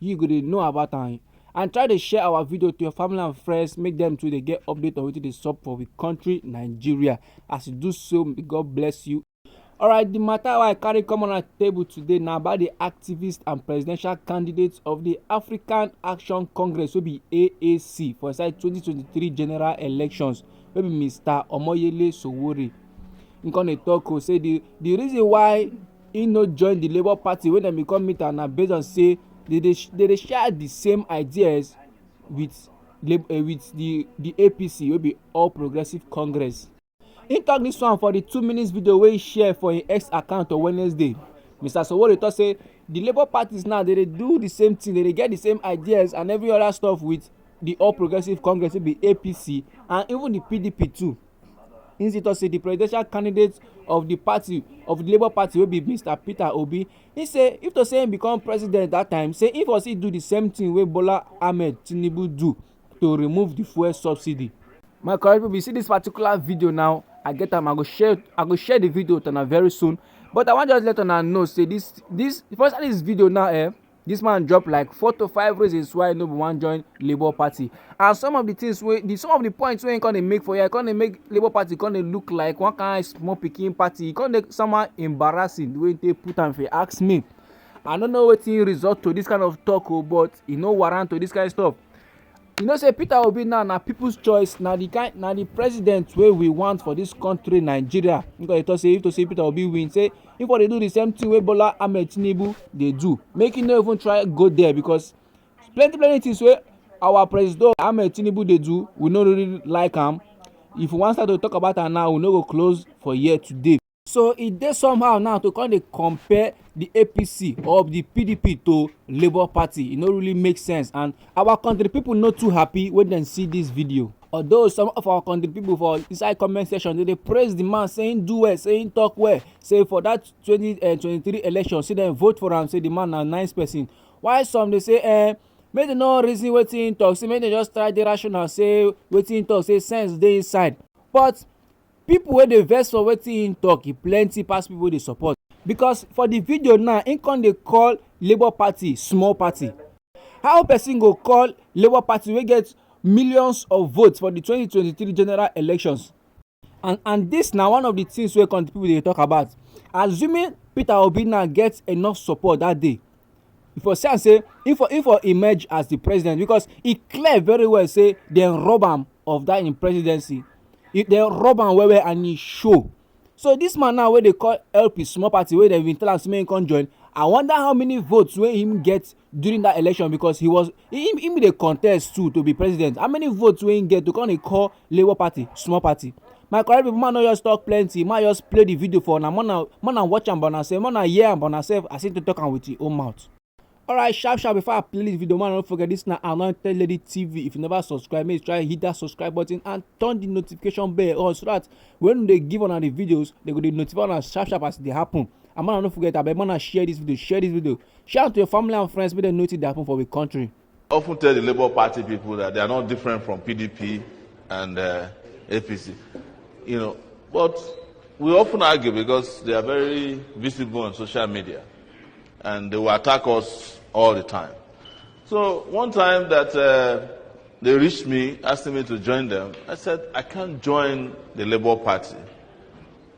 you go dey know about am and try dey share our video to your family and friends make them too dey get update on wetin dey sup for we country nigeria as you do so may god bless you alright the matter wey i carry come on our table today na about the activist and presidential candidate of the african action congress wey be aac for inside 2023 general elections wey be mr omoyele sowore him come dey talk o say the the reason why He no join the labour party when dem bin come meet am na based on say they dey they dey share the same ideas with lab um with the the APC wey be All Progressives Congress. He talk this one for the two minutes video wey he share for him X account on Wednesday. Mr. Sowore talk say the labour parties now they dey do the same thing, they dey get the same ideas and every other stuff with the All Progressives Congress wey be APC and even the PDP too. Nze tok say di presidential candidate of di party of di labour party wey be mr peter obi im say if to say im become president dat time say im for still do di same tin wey bola ahmed tinubu do to remove di fuel subsidy. my correct people you see this particular video now i get am i go share i go share the video with una very soon but i wan just let una know say this this if you wan start this video now eh This man drop like four to five reasons why no be wan join Labour Party and some of the things wey the some of the points wey he come dey make for here come dey make Labour Party come dey look like one kind small pikin party e come dey somehow embarrassing the way he take put am if you ask me I no know wetin result to this kind of talk o oh, but e no warrant to this kind stuff You know say Peter Obi now na people's choice, na the kind na the president wey we want for this country Nigeria. Because they talk say if to say Peter Obi win, say if they do the same thing wey Bola Ahmed Tinubu dey do, make him no even try go there because plenty plenty things wey our president Ahmed Tinubu dey do, we no really like am. If we wan start to talk about am now, we no go close for here today. so e dey somehow now to come dey compare the apc or the pdp to labour party e no really make sense and our country people no too happy when dem see this video although some of our country people for inside comment section dey dey praise the man say him do well say him talk well say for that 2023 eh, election say dem vote for am say the man na nice person while some dey say eh make dem no reason wetin him talk say make dem just try dey rational say wetin him talk say sense dey inside but People wey dey vex for wetin he talk e plenty pass people wey dey support. Because for the video now, he come dey call Labour Party small party. How person go call Labour Party wey get millions of votes for the twenty twenty three general elections and and this na one of the things wey come the people dey talk about. Assuming Peter Obi now get enough support that day, e for see am say e for e for emerge as the president because e clear very well say dem rob am of that im presidency e dem rob am well well and e show so this man now wey dey call help his small party wey dem bin tell am say make he come join i wonder how many votes wey him get during that election because he was im im dey contest too to be president how many votes wey im get to come dey call labour party small party my correct people man no just talk plenty man just play the video for una more na more na watch am by una sef more na hear am by una sef as im take talk am with im own mouth. alright sharp sharp before i play this video man no forget this na anointed lady tv if you never subscribe make you try hit that subscribe button and turn the notification bell on so that when we dey give una the videos they go dey notify una sharp sharp as e dey happen and man no forget abeg man share this video share this video Shout out to your family and friends make dem know wetin dey happen for we country. often tell the Labour Party people that they are not different from PDP and uh, APC, you know. But we often argue because they are very visible on social media and they will attack us all the time. So one time that uh, they reached me asking me to join them, I said, I can't join the Labour Party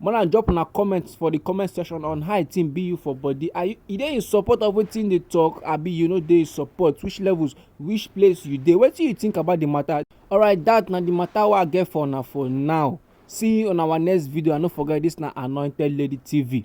more than drop una comment for the comment section on how a thing be you for body are you e dey in support of wetin dey talk abi you no dey support which levels which place you dey wetin you think about the matter alright that na the matter wey i get for una for now see you on our next video and no forget this na anointed lady tv.